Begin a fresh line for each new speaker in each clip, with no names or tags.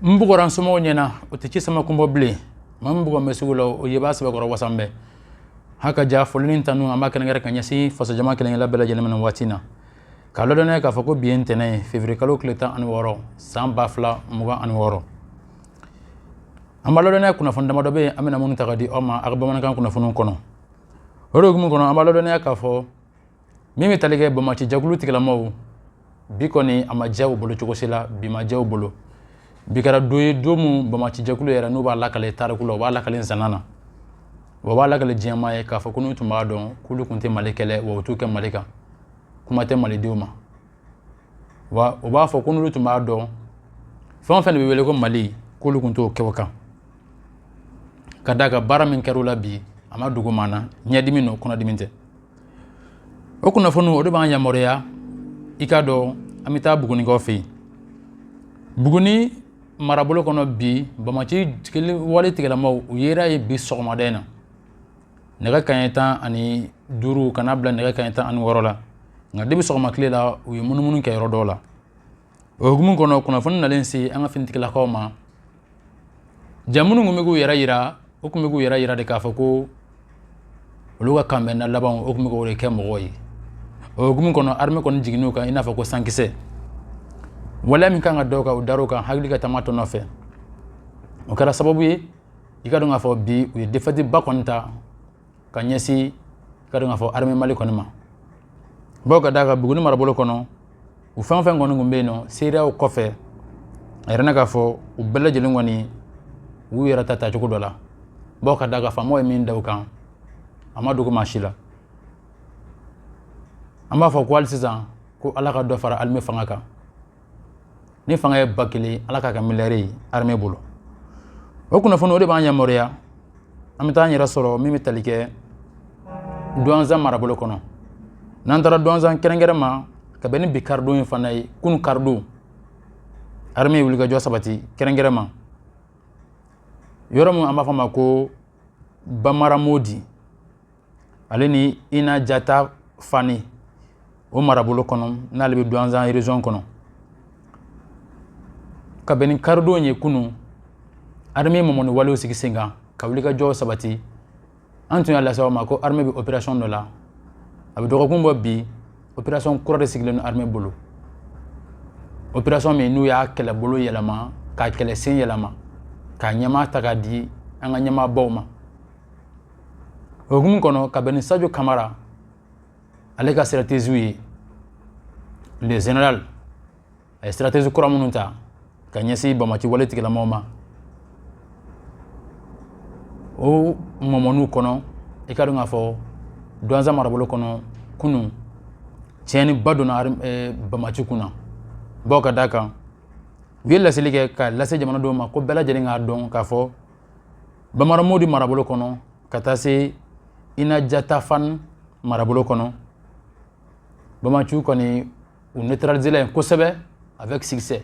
n bugɔra n somɔgɔw ɲɛna o tɛ ci sama kun bɔ bilen maa min bugɔ bɛ sugu la o ye b'a sɛbɛkɔrɔ wasan bɛɛ ha ka ja foli ni tanu an b'a kɛrɛnkɛrɛn ka ɲɛsin fasojama kelen kelenna bɛɛ lajɛlen ma nin waati na k'a ladɔnniya k'a fɔ ko bi ye ntɛnɛn ye feburuyekalo tile tan ani wɔɔrɔ san ba fila mugan ani wɔɔrɔ an b'a ladɔnniya kunnafoni damadɔ bɛ yen an bɛna minnu ta ka di aw ma aw ka bamanankan kunnafoniw kɔnɔ o de hukumu kɔnɔ an b'a ladɔnniya k'a fɔ min bɛ tali kɛ banbaanci jɛkulu tigilamɔgɔw bi kɔni a ma diya u bolo cogo si la bi ma diya u bolo bi kɛra don ye don min banbaanci jɛkulu yɛrɛ n'u b'a lakale tariku la u b'a lakale nsanan na wa u b'a lakale diɲɛmaaw ye k'a fɔ ko n'u tun b'a dɔn k'olu tun tɛ mali kɛlɛ wa u t'u kɛ mali kan kuma tɛ malidenw ma wa u b'a fɔ ko n'olu tun b'a dɔn fɛn o fɛn de bɛ wele ko mali k'olu tun t'u kɛ o kan ka d'a kan baara min kɛra u la bi a ma dogo maa na ɲɛdimi n'o kunnadimi tɛ o kunnafoni o de b'an yamaruya i k'a dɔn an bɛ taa bugunikaw fɛ yen buguni marabolo kɔnɔ bi banbaanci wale tigilamaaw u yera yen bi sɔgɔmada in na nɛgɛ kaɲɛ tan ani duuru ka n'a bila nɛgɛ kaɲɛ tan ani wɔɔrɔ la nka de bi sɔgɔma tile la u ye munumunu kɛ yɔrɔ dɔw la o hukumu kɔnɔ kunnafoni nalen se an ka finitigilakaw ma ja minnu tun bɛ k'u yɛrɛ yira u tun bɛ k'u yɛrɛ yira de k'a fɔ ko olu ka kanbɛnna labanw o tun bɛ k'o de kɛ mɔgɔw ye o hukumu kɔnɔ armée kɔni jiginn'u kan i n'a fɔ ko sankisɛ waleya min ka kan ka da u kan o dar'u kan hakili ka taama tɔ nɔfɛ o kɛra sababu ye i k'a dɔn k'a fɔ bi u ye défaite ba kɔni ta ka ɲɛsin i k'a dɔn k'a fɔ armée mali kɔni ma bawo ka d'a kan buguni marabolo kɔnɔ u fɛn o fɛn kɔni tun bɛ yen n'o seereyaw kɔfɛ a yirala k'a fɔ u bɛɛ lajɛlen kɔni u y'u yɛrɛ ta tacogo dɔ la bawo ka d'a kan faamaw ye min da u kan a ma dogo maa si la an b'a fɔ ko hali sisan ko ala ka dɔ fara armée fanga kan ni fanga ye ba kelen ala k'a kɛ miliyari ye armée bolo o kunnafoni o de b'an yamaruya an bɛ taa an yɛrɛ sɔrɔ min bɛ tali kɛ duwanzan marabolo kɔnɔ n'an taara duwanzan kɛrɛnkɛrɛn ma ka bɛn ni bi karidon in fana ye kunu karidon armée ye wulikajɔ sabati kɛrɛnkɛrɛn ma yɔrɔ min an b'a fɔ a ma ko bamaramodi ale ni inajatafani o marabolo kɔnɔ n'ale bɛ duwanzan région kɔnɔ ka bɛn ni karidon ye kunun armée mɔmɔni walew sigi sen kan ka wulikajɔw sabati an tun y'a lase aw ma ko armée bɛ opération dɔ la a bɛ dɔgɔkun bɔ bi opération kura de sigilen don armée bolo opération min n'u y'a kɛlɛbolo yɛlɛma k'a kɛlɛsen yɛlɛma k'a ɲɛmaa ta k'a di an ka ɲɛmaabaw ma o hukumu kɔnɔ ka bɛn ni sajo kamara ale ka sirateziw ye le general a ye siratezi kura minnu ta ka ɲɛsin bamaci wale tigilamaw ma o mɔmɔniw kɔnɔ i ka dɔn k'a fɔ duwanza marabolo kɔnɔ kunun tiɲɛniba donna eh, bamaci kun na bawo ka d'a kan u ye laseli kɛ ka lase jamanadenw ma ko bɛɛ lajɛlen k'a dɔn k'a fɔ bambara mawude marabolo kɔnɔ ka taa se inajatafan marabolo kɔnɔ bamaci kɔni u netralizela yen kosɛbɛ avec succès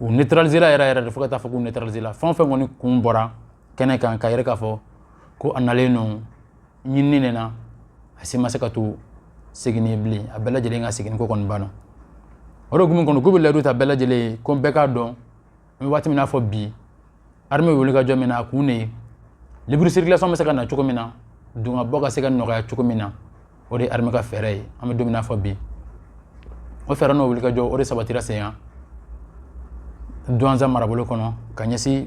u netralizela yɛrɛ yɛrɛ de fo ka taa fɔ k'u netralizela fɛn fɛn kɔni kun bɔra kɛnɛ kan k'a yira k'a fɔ ko a nalen ninnu ɲinini de na a si ma se ka to seginni bilen a bɛɛ lajɛlen ka segin ko kɔni banna o de hukumu kɔnɔ k'u bɛ layidu ta bɛɛ lajɛlen ko bɛɛ k'a dɔn n bɛ waati min n'a fɔ bi armée wuli ka jɔ min na a kun de ye libre circulation bɛ se ka na cogo min na don ka bɔ ka se ka nɔgɔya cogo min na o de ye armée ka fɛɛrɛ ye an bɛ don min n'a fɔ bi o fɛɛrɛ n'o wuli ka jɔ o de sabatira senya duwanza marabolo kɔnɔ ka ɲɛsin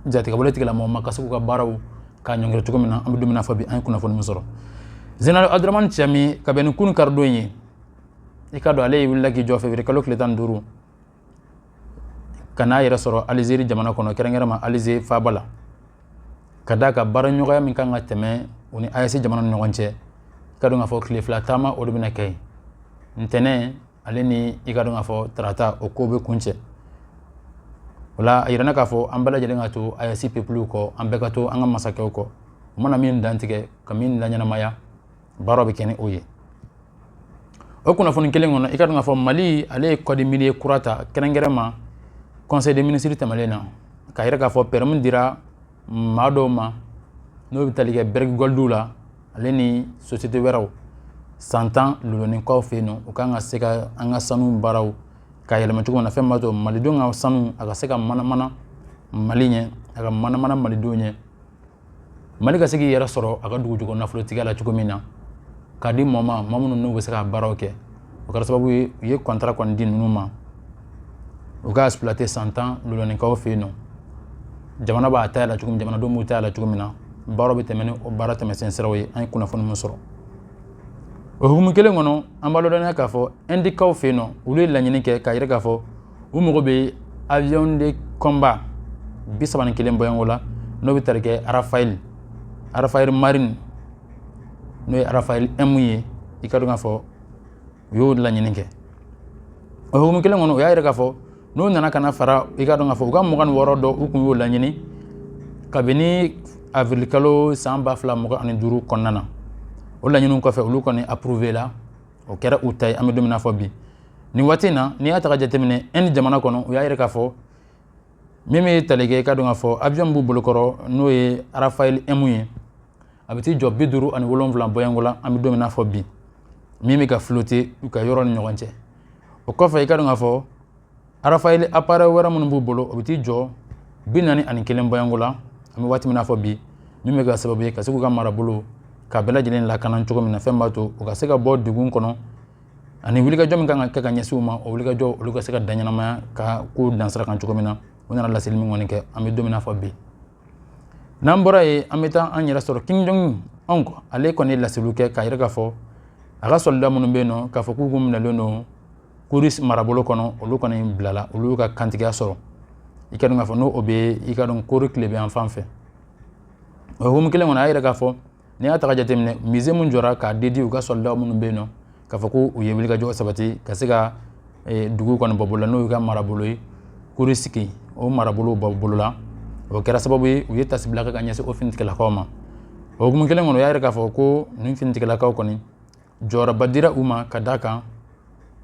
jatigɛwale tigilamaw ma ka se k'u ka baaraw ka ɲɔngiri cogo min na an bɛ don min na fɔ bi an ye kunnafoni min sɔrɔ zenaral aduramani cani ka bɛn ni kunun karidon ye i ka dɔn ale ye wulila k'i jɔ fevrier kalo tile tan ni duuru ka n'a yɛrɛ sɔrɔ alizeri jamana kɔnɔ kɛrɛnkɛrɛn ma alize faaba la ka d'a ka baara ɲɔgɔnya min kan ka tɛmɛ u ni aes jamana ni ɲɔgɔn cɛ i ka dɔn k'a fɔ tile fila taama o de bɛna kɛ yen ntɛnɛn ale ni i ka dɔn k'a fɔ tarata o ko bɛ kuncɛ o la a yirana k'a fɔ an bɛɛ lajɛlen ka to aes pepuluw kɔ an bɛɛ ka to an ka masakɛw kɔ u mana min dantigɛ ka min laɲɛnamaya baara bɛ kɛ ni o ye o kunnafoni kelen kɔnɔ i ka dɔn k'a fɔ mali ale ye code minier kura ta kɛrɛnkɛrɛn ma conseil des ministres tɛmɛnen na k'a yira k'a fɔ pɛrɛmi dira maa dɔw ma n'o bɛ tali kɛ bariki gɔlidiw la ale ni sosite wɛrɛw san tan luloninkaw fɛ yen nɔ u kan ka se ka an ka sanu baaraw ka yɛlɛma cogo min na fɛn b'a to malidenw ka sanu a ka se ka manamana mali ɲɛ a ka manamana malidenw ɲɛ mali ka se k'i yɛrɛ sɔrɔ a ka dugujukɔrɔ nafolotigiya la cogo min na k'a di mɔɔ ma mɔɔ minnu n'u bɛ se ka baaraw kɛ o kɛra sababu ye u ye kɔntara kɔni di ninnu ma u ka exploiter san tan luloninkaw fɛ yen nɔ jamana b'a ta la cogo min jamanadenw b'u ta la cogo min na baaraw bɛ tɛmɛ ni o baara tɛmɛsen siraw ye an ye kunnafoni min sɔrɔ o hukumu kelen kɔnɔ an b'a ladɔnniya k'a fɔ indikaw fɛ yen nɔ olu ye laɲini kɛ k'a yira k'a fɔ u mago bɛ avion de combat bi saba ni kelen bɔɲɔgɔnko la n'o bɛ tali kɛ Rafale Rafale Marine n'o ye Rafale M ye i ka dɔn k'a fɔ u y'o laɲini kɛ o hukumu kelen kɔnɔ u y'a yira k'a fɔ n'u nana ka na fara i ka dɔn k'a fɔ u ka mugan ni wɔɔrɔ dɔ u kun y'o laɲini kabini avril kalo san ba fila mugan ani duuru kɔnɔna na o laɲiniw kɔfɛ olu kɔni approuvé la o kɛra u ta ye an bɛ don min na fɔ bi nin waati in na n'i y'a ta ka jateminɛ Inde jamana kɔnɔ u y'a yira k'a fɔ min bɛ tali kɛ i ka dɔn k'a fɔ avion b'u bolokɔrɔ n'o ye Rafale M ye a bɛ t'i jɔ bi duuru ani wolonwula bɔɲɔgɔnko la an bɛ don min na fɔ bi min bɛ ka flotter u ka yɔrɔ ni ɲɔgɔn cɛ o kɔfɛ i ka dɔn k'a fɔ Rafale appareil wɛrɛ minnu b'u bolo o bɛ t'i jɔ bi naani ani kelen bɔɲɔgɔnko la an bɛ waati min na fɔ bi min bɛ kɛ sababu ye ka se k'u ka marabolo k'a bɛɛ lajɛlen lakana cogo min na fɛn b'a to u ka se ka bɔ degun kɔnɔ ani wulikajɔ min kan ka kɛ ka ɲɛsin u ma o wulikajɔ olu ka se ka da ɲɛnamaya ka ko dansira kan cogo min na u nana laseli min kɔni kɛ an bɛ don min na fɔ bi n'an bɔra yen an bɛ taa an yɛrɛ sɔrɔ Kim Jong-un ale kɔni ye laseliw kɛ k'a yira k'a fɔ a ka soldat minnu bɛ yen nɔ k'a fɔ k'u kun minɛlen don Kursk marabolo kɔnɔ olu kɔni bilala olu y'u ka kantigiya sɔrɔ i ka dɔn k'a fɔ n'o o bɛ i ka dɔn Kore tilebinyanfan fɛ o hukumu kelen kɔnɔ a y'a yira k'a fɔ n'i y'a ta ka jateminɛ musée min jɔra k'a dédier u ka soldat minnu bɛ yen nɔ k'a fɔ ko u ye wulikajɔ sabati ka se ka dugu kɔni bɔ bolo la n'o y'u ka marabolo ye Kursk o marabolo bɔ bolo la o kɛra sababu ye u ye tasibila kɛ ka ɲɛsin o finitigilakaw ma o hukumu kelen kɔnɔ o y'a yira k'a fɔ ko nin finitigilakaw kɔni jɔyɔrɔba dira u ma ka d'a kan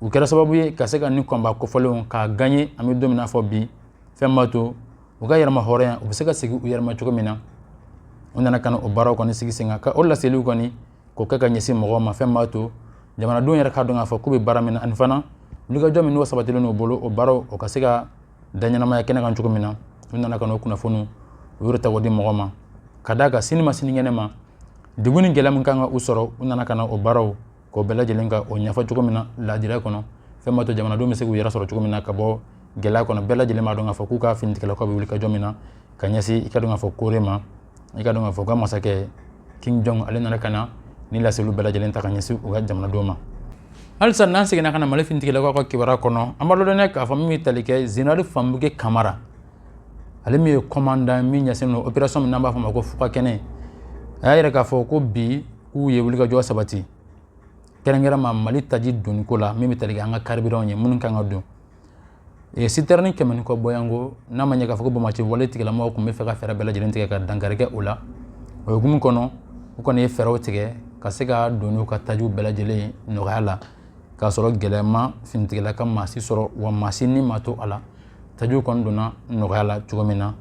u kɛra sababu ye ka se ka nin combat kofɔlenw k'a gagner an bɛ don min na fɔ bi fɛn b'a to u ka yɛrɛmahɔrɔnya u bɛ se ka segin u yɛrɛ ma cogo min na u nana ka na o baaraw kɔni sigi sen kan ka o laseliw kɔni k'o kɛ ka ɲɛsin mɔgɔw ma fɛn b'a to jamanadenw yɛrɛ k'a dɔn k'a fɔ k'u bɛ baara min na ani fana wulikajɔ min n'o sabatilen n'o bolo o baaraw o ka se ka da ɲɛnamaya kɛnɛ kan cogo min na u nana ka na o kunnafoniw yɛrɛ ta k'o di mɔgɔ ma ka d'a kan sini ma sinikɛnɛ ma degun ni gɛlɛya min kan ka u sɔrɔ u nana ka na o baaraw k'o bɛɛ lajɛlen ka o ɲɛfɔ cogo min na laadiriya kɔnɔ fɛn b'a to jamanadenw bɛ se k'u yɛrɛ sɔrɔ cogo min na ka bɔ gɛlɛya kɔnɔ bɛɛ lajɛlen b'a dɔn k'a fɔ k'u ka finitigilakaw bɛ wulikajɔ min na ka ɲɛsin i ka dɔn k'a fɔ Kore ma i ka dɔn k'a fɔ u ka masakɛ Kim Jong ale nana ka na nin laseliw bɛɛ lajɛlen ta ka ɲɛsin u ka jamanadenw ma halisa n'an seginna ka na mali finitigilakaw ka kibaruya kɔnɔ an b'a lɔdɔnniya k'a fɔ min bɛ tali kɛ général Famouké Camara ale min ye kɔmandan min ɲɛsinnen don opération min n'an b'a fɔ o ma ko fugakɛnɛ a y'a yira k'a fɔ ko bi k'u ye wulikajɔ sabati kɛrɛnkɛrɛnma mali taji donniko la min bɛ tali kɛ an ka carburantw ye minnu kan ka don E citerne kɛmɛ ni kɔ bɔyanko n'a ma ɲɛ k'a fɔ ko banbaanci wale tigilamɔgɔw tun bɛ fɛ ka fɛɛrɛ bɛɛ lajɛlen tigɛ ka dankari kɛ o la o hukumu kɔnɔ u kɔni ye fɛɛrɛw tigɛ ka se ka don n'u ka tajiw bɛɛ lajɛlen nɔgɔya la k'a sɔrɔ gɛlɛya ma finitigilaka maa si sɔrɔ wa maa si ni ma to a la tajiw kɔni donna nɔgɔya la cogo min na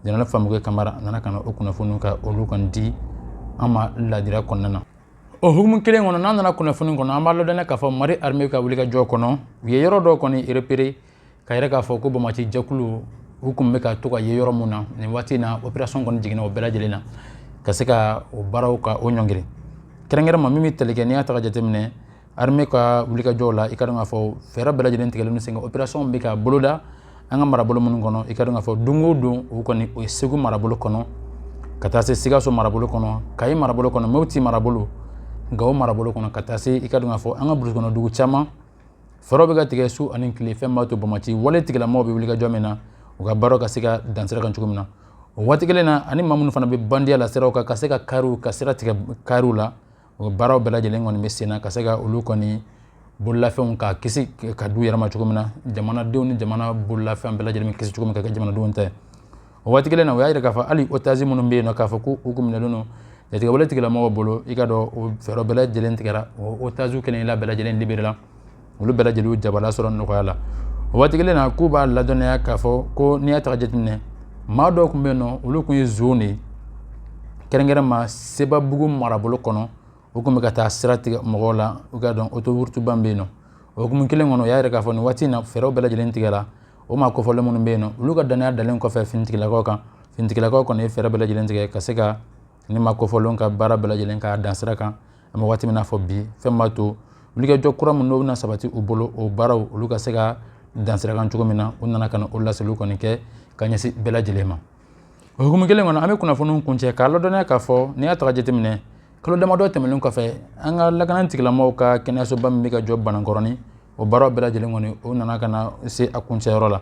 Général Famukɛ Kamara a nana ka na o kunnafoniw ka olu kɔni di an ma laadiriya kɔnɔna na o hukumu kelen kɔnɔ n'an nana kunnafoni kɔnɔ an b'a ladɔnniya k'a fɔ Mali arime ka wulikajɔ kɔnɔ u ye yɔrɔ dɔw kɔni repéré k'a yira k'a fɔ ko banbaanci jɛkulu u kun bɛ ka to ka ye yɔrɔ min na nin waati na opération kɔni jiginna o bɛɛ lajɛlen na ka se ka o baaraw ka o ɲɔngiri kɛrɛnkɛrɛnma min bɛ tali kɛ n'i y'a ta ka jateminɛ Armée ka wulikajɔw la i ka dɔn k'a fɔ fɛɛrɛ bɛɛ lajɛlen tigɛlen don sen kan opération bɛ ka boloda an ka marabolo minnu kɔnɔ i ka dɔn k'a fɔ don o don o kɔni o ye Segu marabolo kɔnɔ ka taa se Sikaso marabolo kɔnɔ Kayi marabolo kɔnɔ Mopti marabolo Gawo marabolo kɔnɔ ka taa se i ka dɔn k'a fɔ an ka burusi kɔnɔ dugu caman fɛɛrɛw bɛ ka tigɛ su ani tile fɛn b'a to banbaanci wale tigilamɔgɔw bɛ wulikajɔ min na u ka baaraw ka se ka dan sira kan cogo min na o waati kelen na ani maa minnu fana bɛ bandiya la siraw kan ka se ka kariw ka sira tigɛ kariw la o baaraw bɛɛ lajɛlen kɔni bɛ senna ka se ka olu kɔni bololafɛnw ka kisi ka d'u yɛrɛ ma cogo min na jamanadenw ni jamana bololafɛn bɛɛ lajɛlen bɛ kisi cogo min ka kɛ jamanadenw ta ye o waati kelen na o y'a yira k'a fɔ hali otage minnu bɛ yen nɔ k'a fɔ ko u kun minɛlen don jatigɛwale tigilamɔgɔw bolo i ka dɔn o fɛɛrɛ bɛɛ lajɛlen tigɛra o otage kelen la bɛɛ lajɛlen libéré la olu bɛɛ lajɛlen jabala sɔrɔ nɔgɔya la o waati kelen na k'u b'a ladɔnniya k'a fɔ ko n'i y'a ta ka jateminɛ maa dɔw tun bɛ yen nɔ olu tun ye zon de ye kɛrɛnkɛrɛnma Sebabugu marabolo kɔnɔ u tun bɛ ka taa sira tigɛ mɔgɔw la i ka dɔn autoroute ba bɛ yen nɔ o hukumu kelen kɔnɔ o y'a yira k'a fɔ nin waati in na fɛɛrɛw bɛɛ lajɛlen tigɛra o maa kofɔlen minnu bɛ yen nɔ olu ka dannaya dalen kɔfɛ finitigilakaw kan finitigilakaw kɔni ye fɛɛrɛ bɛɛ lajɛlen tigɛ ka se ka nin maa kofɔlenw ka baara bɛɛ lajɛlen k'a dan sira kan an bɛ waati min na fɔ bi fɛn b'a to wulikajɔ kura minnu n'o bɛna sabati u bolo o baaraw olu ka se ka dan sira kan cogo min na u nana ka na o laseliw kɔni kɛ ka ɲɛsin bɛɛ lajɛlen ma o hukumu kelen kɔnɔ an bɛ kunnafoniw kuncɛ k'a ladɔnniya k'a fɔ n'i y'a ta ka jateminɛ kalo damadɔ tɛmɛnen kɔfɛ an ka lakana tigilamɔgɔw ka kɛnɛyasoba min bɛ ka jɔ Banankɔrɔni o baara bɛɛ lajɛlen kɔni o nana ka na se a kuncɛyɔrɔ la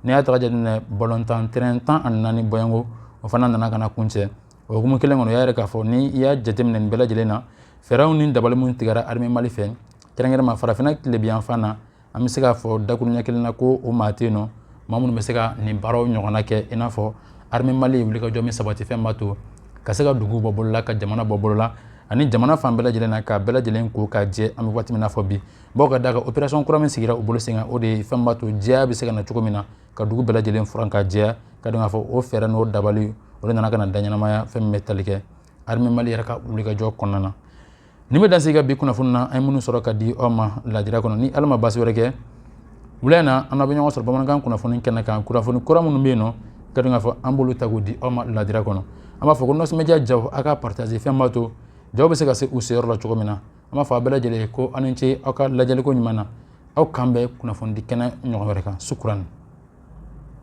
n'i y'a ta ka jateminɛ balontan tɛrɛn tan ani naani bɔyanko o fana nana ka na kuncɛ o hukumu kelen kɔnɔ o y'a yira k'a fɔ ni i y'a jateminɛ nin bɛɛ lajɛlen na fɛɛrɛw ni dabali minnu tigɛra arime Mali fɛ kɛrɛnkɛrɛnma farafinna tilebinyanfan na an bɛ se k'a fɔ dakuruɲɛ kelen na ko o maa tɛ yen nɔ maa minnu bɛ se ka nin baaraw ɲɔgɔnna kɛ i n'a fɔ arime Mali ye wulikajɔ min sabati fɛn b'a to ka se ka dugu bɔ bolola ka jamana bɔ bolola ani jamana fan bɛɛ lajɛlen na k'a bɛɛ lajɛlen ko ka jɛ an bɛ waati min na fɔ bi bawo ka d'a kan operation kura min sigira u bolo sen kan o de ye fɛn b'a to jɛya bɛ se ka na cogo min na ka dugu bɛɛ lajɛlen furan ka jɛya ka dɔn k'a fɔ o fɛɛrɛ n'o dabali o de nana ka na da ɲɛnamaya fɛn min bɛ tali kɛ armée mali yɛrɛ ka wulikajɔ kɔnɔna na nin bɛ dan sigi an ka bi kunnafoni na an ye minnu sɔrɔ ka di aw ma lajira kɔnɔ ni ala ma basi wɛrɛ kɛ wula in na an bɛ ɲɔgɔn sɔrɔ bamanankan kunnafoni kɛnɛ kan kunnafoni kura minnu bɛ yen nɔ ka dɔn k'a fɔ an b'olu ta k'o di aw ma lajira kɔnɔ an b'a fɔ ko nɔsɔmɛdiya jaw a ka partager fɛn b'a to jaw bɛ se ka se u seyɔrɔ la cogo min na an b'a fɔ a bɛɛ lajɛlen ye ko aw ni ce aw ka lajɛliko ɲuman na aw k'an bɛn kunnafonidi kɛnɛ ɲɔgɔn wɛrɛ kan sukuran